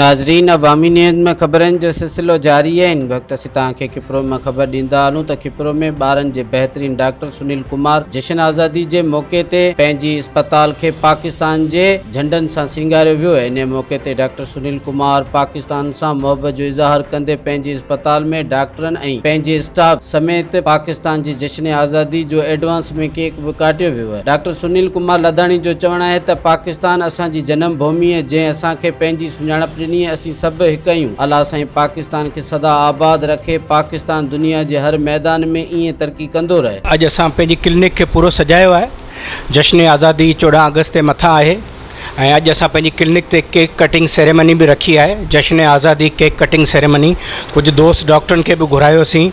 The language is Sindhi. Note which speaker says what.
Speaker 1: ناظرين عوامي نيوز ۾ خبرن جو سلسلو جاري آهي ان وقت اسين توهان کي کپرو مان خبر ڏيندا هلون ته کپرو ۾ ٻارن جي بهترين ڊاڪٽر سنيل ڪمار جشن آزادي جي موقعي تي پنهنجي اسپتال کي پاڪستان جي جهنڊن سان سينگاريو ويو انهي موقعي تي ڊاڪٽر سنيل ڪمار پاڪستان سان محبت جو اظهار ڪندي پنهنجي اسپتال ۾ ڊاڪٽرن ۽ پنهنجي اسٽاف سميت پاڪستان جي جشن آزادي جو ايڊوانس ۾ ڪيڪ به ڪاٽيو ويو ڊاڪٽر سنيل ڪمار لڌاڻي جو چوڻ آهي ته پاڪستان اسان جي جنم ڀومي جنهن اسان کي پنهنجي سڃاڻپ ڏني اسين سڀ هڪ اهيون الله سائين پاڪستان کي سدا آباد رکي پاڪستان دنيا جي هر ميدان ۾ ايئن ترقي ڪندو رهي. اڄ اسان پنهنجي ڪلنڪ
Speaker 2: کي پورو سجايو آهي جشن آزادي چوڏهن آگسٽ تي مٿان آهي ۽ اڄ اسان پنهنجي ڪلنڪ تي ڪيڪ ڪٽنگ سيريمني به رکي آهي جشن آزادي ڪيڪ ڪٽنگ سيريمني ڪجهه دوست ڊاڪٽرن کي به گهرايوسين